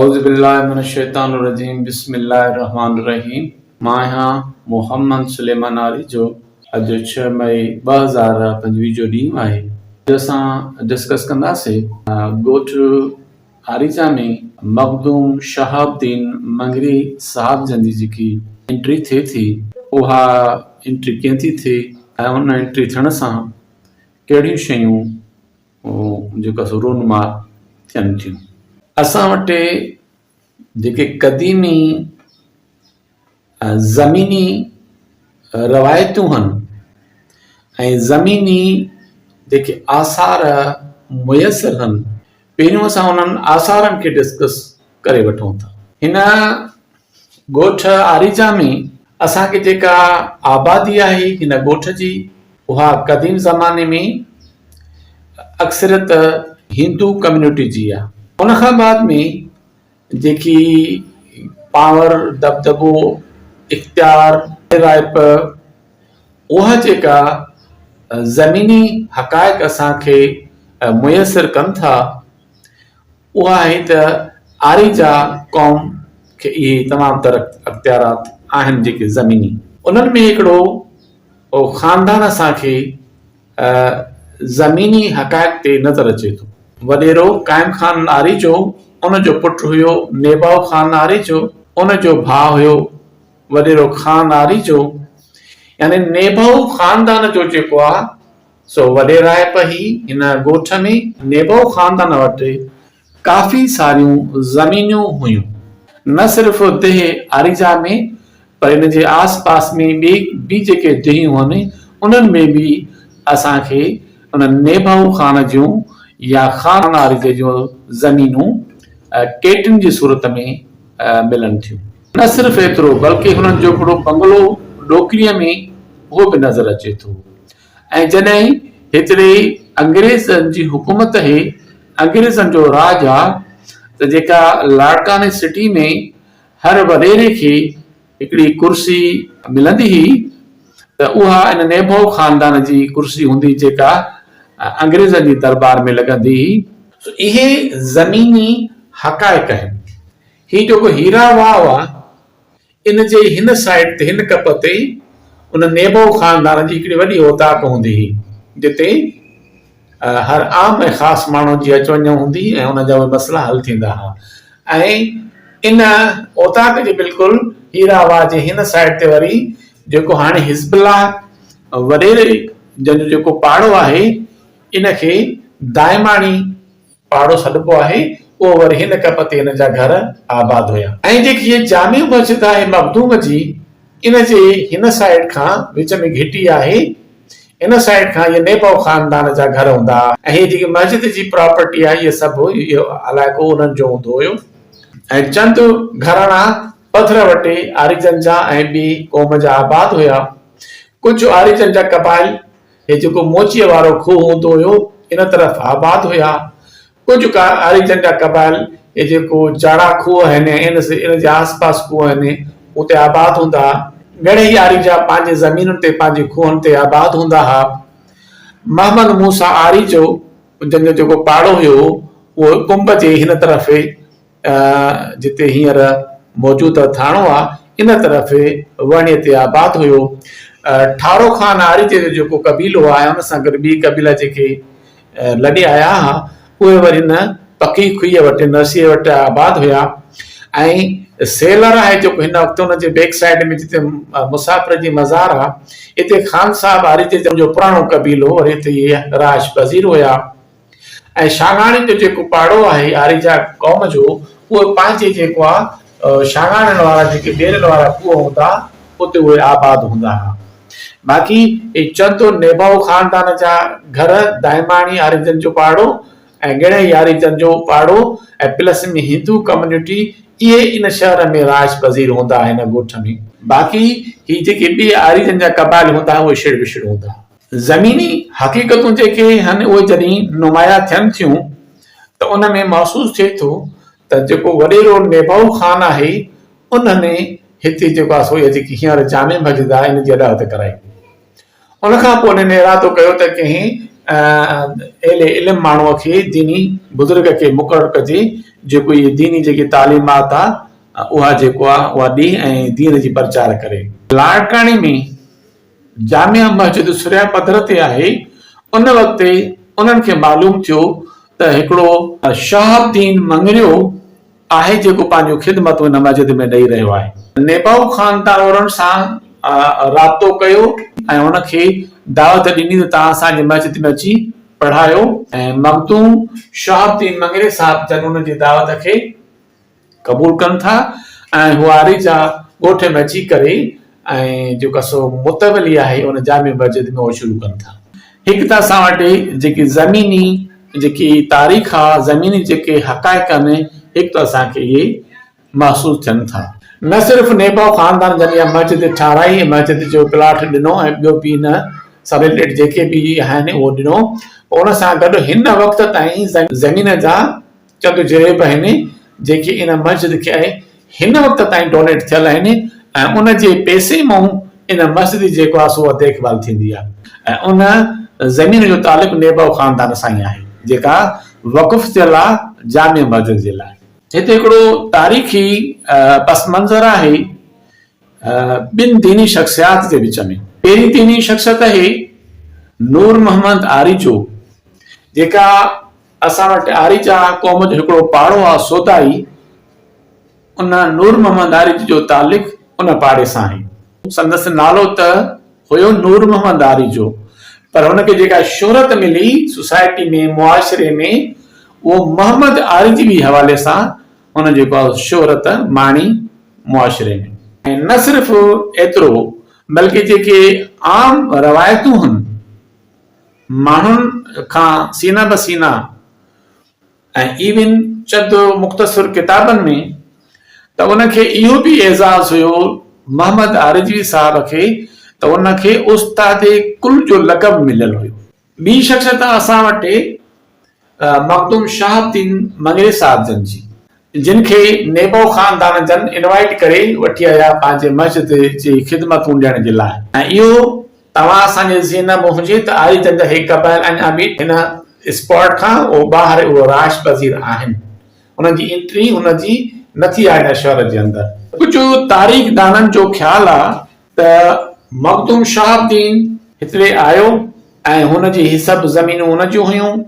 اعوذ باللہ من الشيطان الرجيم بسم الله الرحمٰن الرحيم مان آهيان محمد سليمان آريجو اڄ ڇهه مئي ٻه هزار پنجويهه جو ڏينهن آهي اڄ اسان ڊسڪس ڪنداسين ڳوٺ آريجا ۾ مخدوم شهاب الدين مڱري صاحب جن جي جيڪي انٽري ٿئي ٿي اها انٽري ڪئين ٿي ٿئي ۽ ان انٽري ٿيڻ سان ڪهڙيون شيون جيڪا سو رونما ٿين ٿيون. اسان وٽ جيڪي قديمي زميني روايتون هن ۽ زميني جيڪي آثار ميسر هن پهريون اسان انهن آثارن کي ڊسڪس ڪري وٺون ٿا هن ڳوٺ آريجا ۾ اسان کي جيڪا آبادي آهي هن ڳوٺ جي اها قديم زماني ۾ اڪثريت هندو ڪميونٽي جي آهي ان کان بعد ۾ جيڪي پاور دٻدٻو اختيار رائپ اها جيڪا زميني حقائق اسان کي ميسر ڪن ٿا. اها آهي ته آريجا قوم کي اهي تمام تر اختيارات آهن جيڪي زميني. انهن ۾ هڪڙو خاندان اسان کي زميني حقائق تي نظر اچي ٿو. وڏيرو قائم خان آريجو، ان جو پٽ هيو نيباو خان آريجو، ان جو ڀاء هيو وڏيرو خان آريجو يعني نيباو خاندان جو جيڪو آ. سو وڏيرائپ هي هن ڳوٺ ۾ نيبو خاندان وٽ ڪافي ساريون زمينون هيون. نه صرف ديهه آريجا ۾ پر ان جي آس پاس ۾ ٻي به جيڪي ديهيون هن انهن ۾ به اسان کي ان نيبو خان جون يا خان آريجي جون زمينون ڪيٽن جي صورت ۾ ملن ٿيون. نه صرف ايترو بلڪه هنن جوکڙو بنگلو ڏوڪريء ۾ اهو به نظر اچي ٿو. ۽ جڏهن هتڙي انگريزن جي حڪومت هي، انگريزن جو راڄ ها ته جيڪا لاڙڪاڻي سٽي ۾ هر وڏيري کي هڪڙي ڪرسي ملندي هي ته اها ان نيڀو خاندان جي ڪرسي هوندي جيڪا انگريزن جي دربار ۾ لڳندي هي. سو اهي زميني حقائق آهن. هي جيڪو هيرا واهه هئا. ان جي هن سائيڊ تي هن ٽپ تي ئي ان نيبو خاندان جي هڪڙي وڏي اوطاق هوندي هئي جتي هر عام ۽ خاص ماڻهن جي اچ وڃ هوندي ۽ ان جا اهي مسئلا حل ٿيندا ها ۽ ان اوطاق جي بلڪل هيرا واهه جي هن سائيڊ تي وري جيڪو هاڻي حزب الله وريري جن جو جيڪو پاڙو آهي ان کي دائماڻي پاڙو سڏبو آهي اهو وري هن ڪپ تي هن جا گهر آباد هيا. ۽ جيڪي هيء جامع مسجد آهي مخدوم جي ان جي هن سائيڊ کان وچ ۾ گهٽي آهي ان سائيڊ کان هيء نيپئو خاندان جا گهر هوندا ها ۽ هيء جيڪي مسجد جي پراپرٽي آهي هيء سڀ اهو علائقو انهن جو هوندو هيو ۽ چند گهراڻا پڌر وٽي آريجن جا ۽ ٻي قوم جا آباد هيا ڪجهه آريجن جا قبائل هي جيڪو موچيء وارو کوهه هوندو هيو، ان طرف آباد هيا. ڪجهه ڪا آريجن جا قبائل هي جيڪو جاڙا کوهه آهن ۽ ان سي ان جي آسپاس کوهه آهن، اتي آباد هوندا ها. گهڻيئي آريجا پنهنجي زمينن تي پنهنجي کوهن تي آباد هوندا ها. محمد موسيٰ آريجو جن جو جيڪو پاڙو هيو، اهو ڪنب جي هن طرف هي. جتي هينئر موجود ٿاڻو آ ان طرف وڻي تي آباد هيو ٺارو خان آريجي جو جيڪو قبيلو آ ان سان گڏ ٻي قبيلا جيڪي لڏي آيا ها اهي وري ان پڪي کئي وٽ نرسي وٽ آباد هيا ۽ سيلر آهي جيڪو هن وقت ان جي بيڪ سائيڊ ۾ جتي مسافر جي مزار آ اتي خان صاحب آريجي جو پراڻو قبيلو وري اتي رهائش پذير هيا ۽ شاگاڻي جو جيڪو پاڙو آهي آريجا قوم جو اهي پنهنجي جيڪو آ شاگاڻين وارا جيڪي ٻيرن وارا کوهه هوندا اتي اهي آباد هوندا ها باقي اهي چند نيبائو خاندان جا گهر دائماڻي آريجن جو پاڙو ۽ ڳڙهي آريجن جو پاڙو ۽ پلس ۾ هندو ڪميونٽي اهي ان شهر ۾ رهائش پذير هوندا ها ان ڳوٺ ۾ باقي هي جيڪي ٻي آريجن جا قبائل هوندا ها اهي شڙ وشڙ هوندا ها زميني حقيقتون جيڪي هن اهي جڏهن نمايان ٿين ٿيون ته ان ۾ محسوس ٿئي ٿو ته جيڪو وڏيرو نيباهو خان آهي ان هن هتي جيڪو آسو يا جيڪي هينئر جامع مسجد آهي ان جي اڏاوت ڪرائي هئي ان کان پوء هن ارادو ڪيو ته ڪنهن اهل علم ماڻهو کي ديني بزرگ کي مقرر ڪجي جيڪو اهي ديني جيڪي تعليمات آ اها جيڪو آ اها ڏي ۽ دين جي پرچار ڪري. لاڙڪاڻي ۾ جامع مسجد سرهيا پڌر تي آهي، ان وقت انهن کي معلوم ٿيو ته هڪڙو. شهاب الدين مڱريو آهي جيڪو پنهنجون خدمتون هن مسجد ۾ ڏئي رهيو آهي. نيپئو خان تارورن سان رابطو ڪيو ۽ هن کي دعوت ڏني ته توهان اسان جي مسجد ۾ اچي پڙهايو. مخدوم شهاب الدين مڱري صاحب جن انهن جي دعوت کي. قبول ڪن ٿا ۽ هو آري جا ڳوٺ ۾ اچي ڪري ۽ جيڪا سو متولي آهي ان جامع مسجد ۾ اهو شروع ڪن ٿا. هڪ ته اسان وٽ جيڪي زميني جيڪي تاريخ آ زميني جيڪي حقائق آهن هڪ ته اسان کي اهي محسوس ٿين ٿا. نه صرف نيباو خاندان جن اها مسجد ٺاهرائي ۽ مسجد جو پلاٽ ڏنو ۽ ٻيو به ان سان رليٽيڊ جيڪي به آهن اهو ڏنو پر ان سان گڏ هن وقت تائين زمين جا چٽ جريب آهن جيڪي ان مسجد کي هن وقت تائين ڊونيٽ ٿيل آهن ۽ ان جي پئسي مون ان مسجد جي جيڪو آهي سو اها ديک ڀال ٿيندي آهي ۽ ان زمين جو تعلق نيبو خاندان سان ئي آهي جيڪا وقف ٿيل آهي جامع مسجد جي لاء. هتي هڪڙو تاريخي پس منظر آهي ٻن ديني شخصيات جي وچ ۾ پهرين ديني شخصيت آهي نور محمد آريجو جيڪا اسان وٽ آريجا قوم جو هڪڙو پاڙو آ سودائي، ان نور محمد آريجي جو تعلق ان پاڙي سان آهي. سندس نالو ته هيو نور محمد آريجو پر هن کي جيڪا شهرت ملي سوسائٽي ۾ معاشري ۾ اهو محمد آريجي وي حوالي سان هن جيڪا شهرت ماڻي معاشري ۾. ۽ نه صرف ايترو بلڪه جيڪي عام روايتون هن. ماڻهن کان سينا به سينا ۽ ايون چند مختصر ڪتابن ۾ ته ان کي اهو به اعزاز هيو محمد آريجوي صاحب کي ته ان کي استاد ڪل جو لقب مليل هيو. ٻي شخصيت اسان وٽ مخدوم شهاب الدين مڱري صاحب جن جي، جن کي نيبو خاندان جن انوائيٽ ڪري وٺي آيا پنهنجي مسجد جي خدمتون ڏيڻ جي لاء. ۽ اهو توهان اسان جي ذهن ۾ هجي ته آري جن جا هي قبائل اڃا به هن اسپاٽ کان اهو ٻاهر اهو رهائش پذير آهن. انهن جي انٽري هن جي نه ٿي آهي هن شهر جي اندر. ڪجهه تاريخدانن جو خيال آهي ته مخدوم شهاب الدين هتڙي آيو ۽ هن جي هي سڀ زمينون هن جون هيون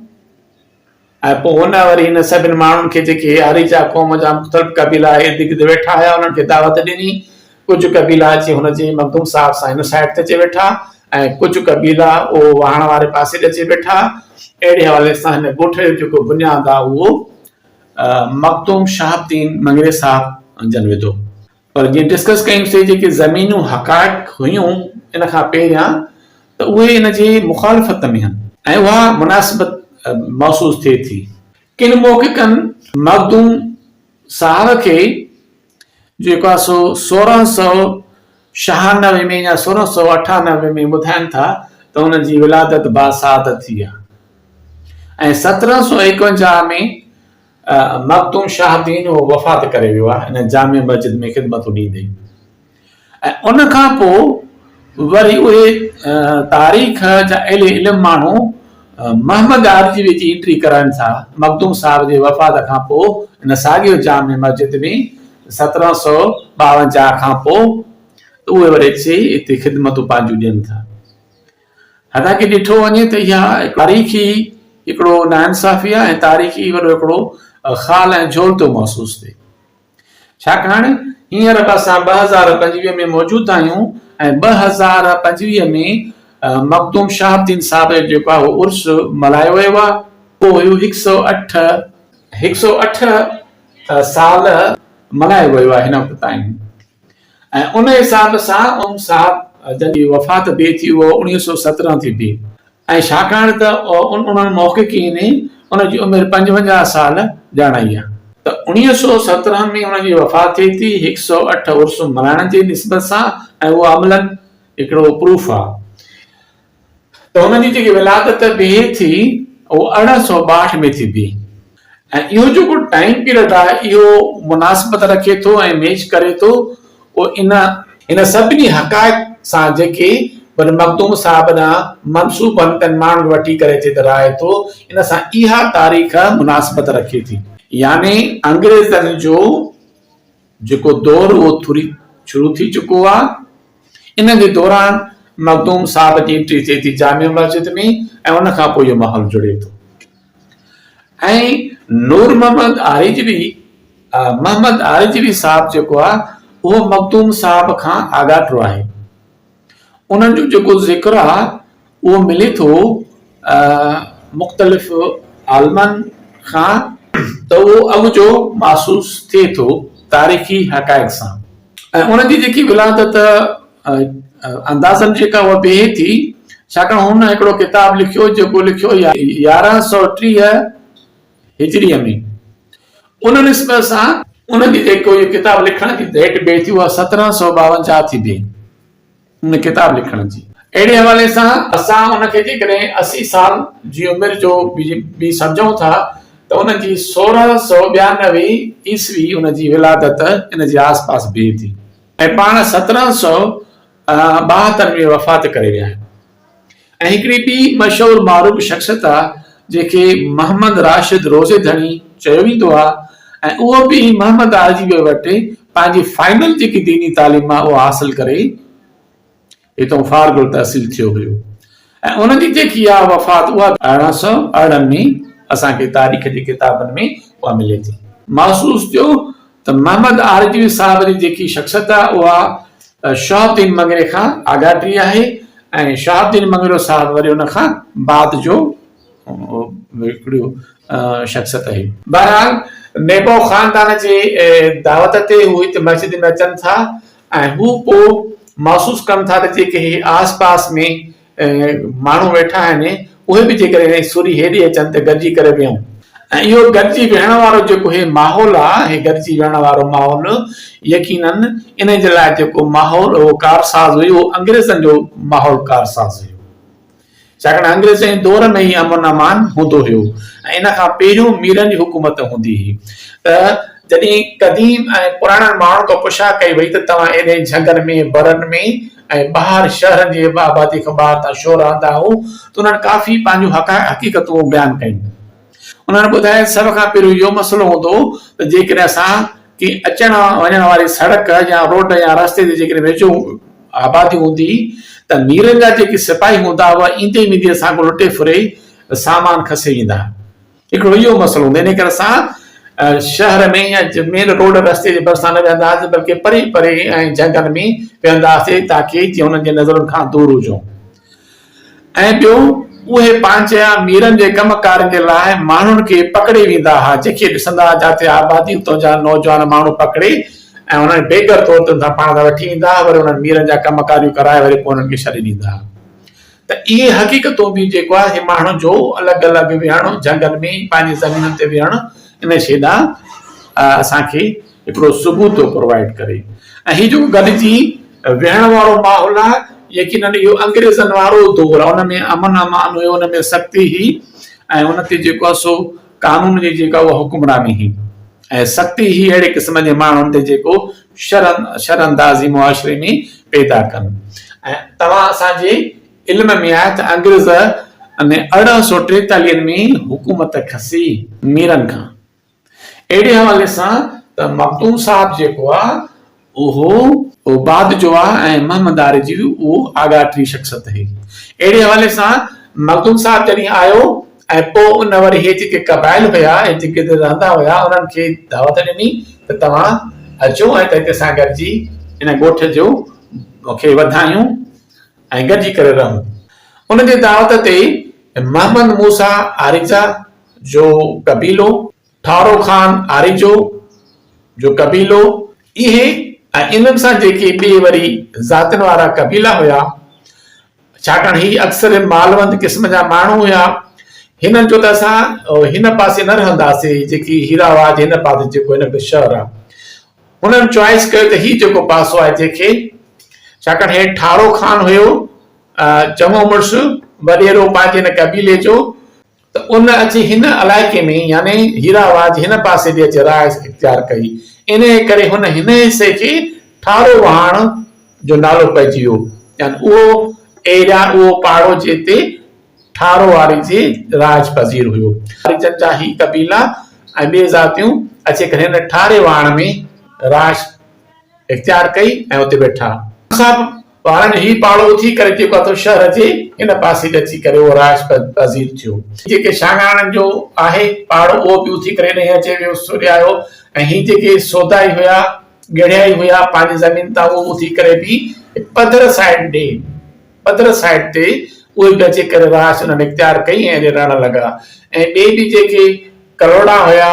۽ پوء هن وري هن سڀن ماڻهن کي جيڪي آريجا قوم جا مختلف قبيلا ارد گرد ويٺا هيا انهن کي دعوت ڏني ڪجهه قبيلا اچي هن جي مخدوم صاحب سان هن سائيڊ تي اچي ويٺا ۽ ڪجهه قبيلا اهو واهڻ واري پاسي تي اچي ويٺا اهڙي حوالي سان هن ڳوٺ جو جيڪو بنياد آهي اهو مخدوم شهاب الدين مڱري صاحب جن وڌو. پر جيئن ڊسڪس ڪيم سي جيڪي زمينون حقائق هيون ان کان پهريان ته اهي ان جي مخالفت ۾ هن ۽ اها مناسبت محسوس ٿئي ٿي. ڪن محققن مخدوم صاحب کي جيڪو آهي سو سورهن سؤ شهانوي ۾ يا سورهن سؤ اٺانوي ۾ ٻڌائن ٿا ته هن جي ولادت باسعادت ٿي آهي ۽ سترهن سؤ ايڪونجاهه ۾ مخدوم شاهه الدين اهو وفات ڪري ويو آهي ان جامع مسجد ۾ خدمتون ڏيندي ۽ ان کان پوء وري اهي تاريخ جا اهل علم ماڻهو محمد عارضي جي انٽري ڪرائن ٿا مخدوم صاحب جي وفات کان پوء ان ساڳيو جامع مسجد ۾ سترهن سؤ ٻاونجاهه کان پوء اهي وري اچي اتي خدمتون پنهنجون ڏين ٿا حتانڪه ڏٺو وڃي ته اها تاريخي هڪڙو ناانصافي آهي ۽ تاريخي وڏو هڪڙو خال ۽ جهول ٿو محسوس ٿئي. ڇاڪاڻ هينئر به اسان ٻه هزار پنجويهه ۾ موجود آهيون ۽ ٻه هزار پنجويهه ۾ مخدوم شهاب الدين صاحب جو جيڪو آهي اهو عرس ملهايو ويو آهي. اهو هيو هڪ سئو اٺ. هڪ سئو اٺ سال ملهايو ويو آهي هن وقت تائين. ۽ ان حساب سان ان صاحب جنهنجي وفات بي ٿي اهو اوڻيهه سئو سترهن ٿي بي ۽ ڇاڪاڻ ته ان انهن محققين ان جي عمر پنجونجاهه سال ڄاڻائي آهي ته اوڻيهه سئو سترهن ۾ ان جي وفات ٿئي ٿي هڪ سئو اٺ عرس ملهائڻ جي نسبت سان ۽ اهو عملاً هڪڙو پروف آهي ته هن جي جيڪي ولادت به ٿي اهو ارڙهن سؤ ٻاهٺ ۾ ٿي بيهي ۽ اهو جيڪو ٽائيم پيريڊ آهي اهو مناسبت رکي ٿو ۽ ميچ ڪري ٿو اهو ان ان سڀني حقائق سان جيڪي بن مخدوم صاحب ڏانهن منسوب آهن تن ماڻهن کي وٺي ڪري ٿي ته رائي ٿو ان سان اها تاريخ مناسبت رکي ٿي. يعني انگريزن جو جيڪو دور اهو ٿوري شروع ٿي چڪو آ. ان جي دوران مخدوم صاحب جي انٽري ٿئي ٿي جامع مسجد ۾ ۽ ان کان پوء اهو ماحول جڙي ٿو ۽ نور محمد آريجوي محمد آريجوي صاحب جيڪو آ اهو مخدوم صاحب کان آڳاٽو آهي. انهن جو جيڪو ذڪر آهي اهو ملي ٿو مختلف عالمن کان ته اهو اڳ جو محسوس ٿئي ٿو تاريخي حقائق سان ۽ ان جي جيڪي ولادت اندازن جيڪا اها بيهي ٿي ڇاڪاڻ هن هڪڙو ڪتاب لکيو جيڪو لکيو يارهن سؤ ٽيهه هجريء ۾، ان نسبت سان ان جي جيڪو اهو ڪتاب لکڻ جي ڊيٽ بيٺي اها سترهن سؤ ٻاونجاهه ٿي بيهي، ان ڪتاب لکڻ جي. اهڙي حوالي سان اسان ان کي جيڪڏهن اسي سال جي عمر جو به سمجهون ٿا ته ان جي سورهن سؤ ٻيانوي عيسوي ان جي ولادت ان جي آس پاس بيهي ٿي ۽ پاڻ سترهن سؤ ٻاهتر ۾ وفات ڪري ويا. ۽ هڪڙي ٻي مشهور معروف شخصيت آ جنهن کي محمد راشد روضي ڌڻي چيو ويندو آ ۽ اهو به محمد آجي ويء وٽ پنهنجي فائنل جيڪي ديني تعليم آ اها حاصل ڪري هتئون فارغ التحصيل ٿيو هيو ۽ ان جي جيڪي آ وفات اها به ارڙهن سؤ ارڙهن ۾ اسان کي تاريخ جي ڪتابن ۾ اها ملي ٿي. محسوس ٿيو ته محمد آرزوي صاحب جي جيڪي شخصيت آهي اها شهاب الدين مڱري کان آڳاٽي آهي ۽ شهاب الدين مڱرو صاحب وري ان کان بعد جو هڪڙو شخصيت آهي. بهرحال نيبو خاندان جي دعوت تي هو هت مسجد ۾ اچن ٿا ۽ هو پوء محسوس ڪن ٿا ته جيڪي هي آس پاس ۾ ماڻهو ويٺا آهن اهي به جيڪڏهن هي سوري هيڏي اچن ته گڏجي ڪري ويهون ۽ اهو گڏجي ويهڻ وارو جيڪو هي ماحول آ هي گڏجي ويهڻ وارو ماحول يقينن انهي جي لاء جيڪو ماحول اهو ڪارساز هيو اهو انگريزن جو ماحول ڪارساز هيو ڇاڪاڻ انگريزن جي دور ۾ ئي امن امان هوندو هيو ۽ ان کان پهريون ميرن جي حڪومت هوندي هي ته جڏهن قديم ۽ پراڻن ماڻهن کان پڇا ڪئي وئي ته توهان ايڏين جهنگن ۾ برن ۾ ۽ ٻاهر شهر جي به آبادي کان ٻاهر تان شو رهندا هو ته انهن ڪافي پنهنجون حقيقتون بيان ڪيون. انهن ٻڌايو سڀ کان پهريون اهو مسئلو هوندو هو ته جيڪڏهن اسان ڪنهن اچڻ وڃڻ واري سڙڪ يا روڊ يا رستي جي جيڪڏهن ويجهو آبادي هوندي ته ميرن جا جيڪي سپاهي هوندا هئا ايندي ويندي اسان کان لٽي ڦري سامان کسي ويندا. هڪڙو اهو مسئلو هوندو انهي ڪري اسان شهر ۾ يا مين روڊ رستي جي ڀرسان نه ويهندا هئاسين بلڪه پري پري ۽ جهنگل ۾ ويهندا هئاسين تاڪي جيئن انهن جي نظرن کان دور هجون ۽ ٻيو اهي پنهنجا ميرن جي ڪم ڪارن جي لاء ماڻهن کي پڪڙي ويندا هئا جيڪي ڏسندا هئا جاتي آبادي اتان جا نوجوان ماڻهو پڪڙي ۽ انهن بيگر طور تي ان سان پاڻ سان وٺي ايندا هئا وري انهن ميرن جا ڪم ڪاريون ڪرائي وري پوء انهن کي ڇڏي ڏيندا هئا ته اهي حقيقتون به جيڪو آهي اهي ماڻهن جو الڳ الڳ ويهڻ جهنگل ۾ ئي پنهنجي زمينن تي ويهڻ ان شيء ڏانهن اسان کي هڪڙو ثبوت ٿو پرووائيڊ ڪري ۽ هي جيڪو گڏجي ويهڻ وارو ماحول آهي يقينن اهو انگريزن وارو دور آهي ان ۾ امن امان هيو ان ۾ سختي هئي ۽ ان تي جيڪو آهي سو قانون جي جيڪا اها حڪمراني هئي ۽ سختي هي اهڙي قسم جي ماڻهن تي جيڪو شرم شراندازي معاشري ۾ پيدا ڪن ۽ توهان اسان جي علم ۾ آهي ته انگريز ۾ ارڙهن سو ٽيتاليهن ۾ حڪومت کسي ميرن کان اهڙي حوالي سان ته مخدوم صاحب جيڪو آ اهو عباد جو آ ۽ محمد آريجي به اهو آگاهه ترين شخصت هي. اهڙي حوالي سان مخدوم صاحب جڏهن آيو ۽ پوء ان وري هي جيڪي قبائل هيا ۽ جيڪي اتي رهندا هيا انهن کي دعوت ڏني ته توهان اچو ۽ هتي اسان گڏجي ان ڳوٺ جو کي وڌايون ۽ گڏجي ڪري رهون. ان جي دعوت تي محمد موسيٰ آريجا جو قبيلو ٺارو خان آريجو جو قبيلو، اهي ۽ انهن سان جيڪي ٻي وري ذاتين وارا قبيلا هيا، ڇاڪاڻ هي اڪثر مالوند قسم جا ماڻهو هيا، هنن چيو ته اسان هن پاسي نه رهنداسي جيڪي هيرا واهه جي هن پاسي جيڪو هن جو شهر آهي. هنن چوائيس ڪيو ته هي جيڪو پاسو آهي جنهن کي ڇاڪاڻ هي ٺارو خان هيو چڱو مڙس وڏيرو پنهنجي هن قبيلي جو ته ان اچي هن علائقي ۾ يعني هيرا واهه جي هن پاسي به اچي رهائش اختيار ڪئي. انهيء ڪري هن هن حصي کي ٺارو واهڻ جو نالو پئجي ويو. يعني اهو ايريا، اهو پاڙو جتي ٺارو واري جي رهائش پذير هيو. هريجن جا هي قبيلا ۽ ٻي ذاتيون اچي ڪري هن ٺاري واهڻ ۾ رهائش اختيار ڪئي ۽ اتي ويٺا. ان کان ٻارن هي پاڙو اٿي ڪري جيڪو اٿو شهر جي هن پاسي به اچي ڪري اهو رهائش پذير ٿيو. جيڪي شاهراڻن جو آهي پاڙو اهو به اٿي ڪري هيڏانهن اچي ويو سوريايو ۽ هي جيڪي سودائي هيا ڳڙهيائي هيا پنهنجي زمين تان اهو اٿي ڪري به پڌر سائيڊ ڏي پڌر سائيڊ تي اهي به اچي ڪري رهائش انهن اختيار ڪئي ۽ اڏي رهڻ لڳا ۽ ٻئي به جيڪي ڪلهوڙا هيا.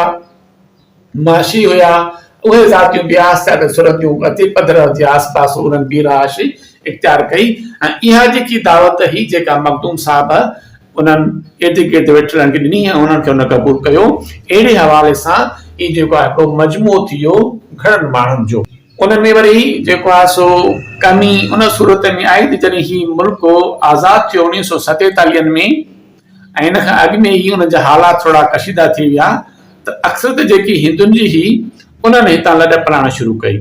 معاشي هيا، اهي ذاتيون بياس سياده سرن جون وتي پڌر جي آس پاس انهن بي رهائشي اختيار ڪئي ۽ اها جيڪي دعوت هئي جيڪا مخدوم صاحب انهن ارد گرد ويٺلن کي ڏني ۽ انهن کي انهن قبول ڪيو اهڙي حوالي سان هي جيڪو آهي هڪڙو مجموعو ٿي ويو گهڻن ماڻهن جو. ان ۾ وري جيڪو آهي سو ڪمي ان صورت ۾ آئي ته جڏهن هي ملڪ آزاد ٿيو اڻويهه سئو ستيتاليهن ۾ ۽ ان کان اڳ ۾ ئي انهن جا حالات ٿورا ڪشيده ٿي ويا ته اڪثريت جيڪي هندن جي هئي، انهن هتان لڏ پلاڻ شروع ڪئي.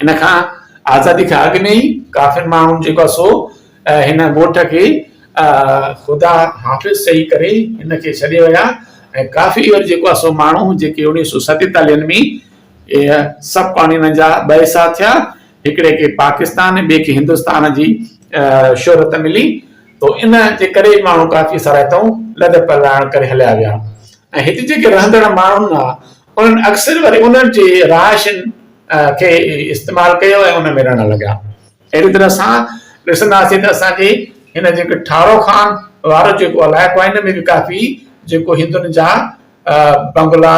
ان کان آزادي کان اڳ ۾ ئي ڪافر ماڻهن جيڪو آهي سو هن ڳوٺ کي. خدا حافظ چئي ڪري هن کي ڇڏي ويا ۽ ڪافي اهڙي جيڪو آهي سو ماڻهو جيڪي اڻويهه سو ستيتاليهن ۾ سڀ پاڻي انهن جا ٻئي ساهه ٿيا. هڪڙي کي پاڪستان ۽ ٻئي کي هندستان جي شهرت ملي تو ان جي ڪري ماڻهو ڪافي سرائتائون لڏ پلاڻ ڪري هليا ويا ۽ هتي جيڪي رهندڙ ماڻهن آ انهن اڪثر وري انهن جي رهائشين کي استعمال ڪيو ۽ ان ۾ رهڻ لڳا اهڙي طرح اسان ڏسنداسين ته اسان کي هن جيڪي ٺارو خان وارو جيڪو علائقو آ ان ۾ به ڪافي جيڪو هندن جا بنگلا،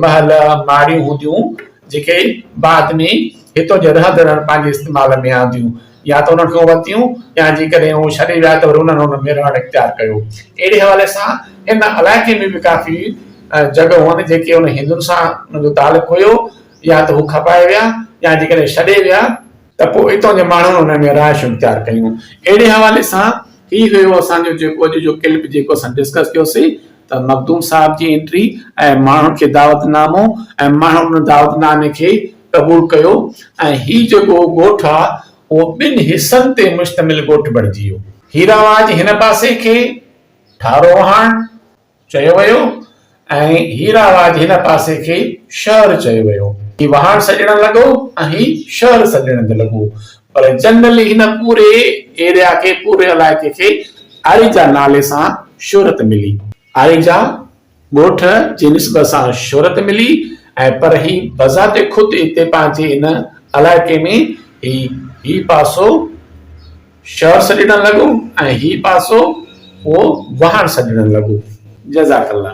محل، ماڙيون هونديون جيڪي بعد ۾ هتو جي رهندڙن پنهنجي استعمال ۾ آنديون يا ته انهن کان ورتيون يا جيڪڏهن هو ڇڏي ويا ته وري انهن ان ۾ رهڻ اختيار ڪيو. اهڙي حوالي سان ان علائقي ۾ به ڪافي جڳهون آهن جيڪي ان هندن سان انهن جو تعلق هيو يا ته هو کپائي ويا يا جيڪڏهن ڇڏي ويا ته پوء اتان جي ماڻهن انهن جون رهائشون اختيار ڪيون. اهڙي حوالي سان هي هيو اسان جو جيڪو اڄ جو ڪلپ جيڪو اسان ڊسڪس ڪيوسي ته مخدوم صاحب جي انٽري ۽ ماڻهن کي دعوت نامو ۽ ماڻهن ان دعوت نامي کي قبول ڪيو ۽ هي جيڪو ڳوٺ آ اهو ٻن حصن تي مشتمل ڳوٺ بڻجي ويو. هيراواج هن پاسي کي، ٺاروهاڻ، چيو ويو ۽ هي راواج هن پاسي کي شهر چيو ويو. هي واهڻ سڏڻ لڳو ۽ هي شهر سڏڻ به لڳو پر جنرلي هن پوري ايريا کي پوري علائقي کي آريجا نالي سان شهرت ملي. آريجا ڳوٺ جي نسبت سان شهرت ملي ۽ پر هي بذات خود هتي پنهنجي هن علائقي ۾ هي هي پاسو. شهر سڏڻ لڳو ۽ هي پاسو اهو واهڻ سڏڻ لڳو. جزاڪ الله.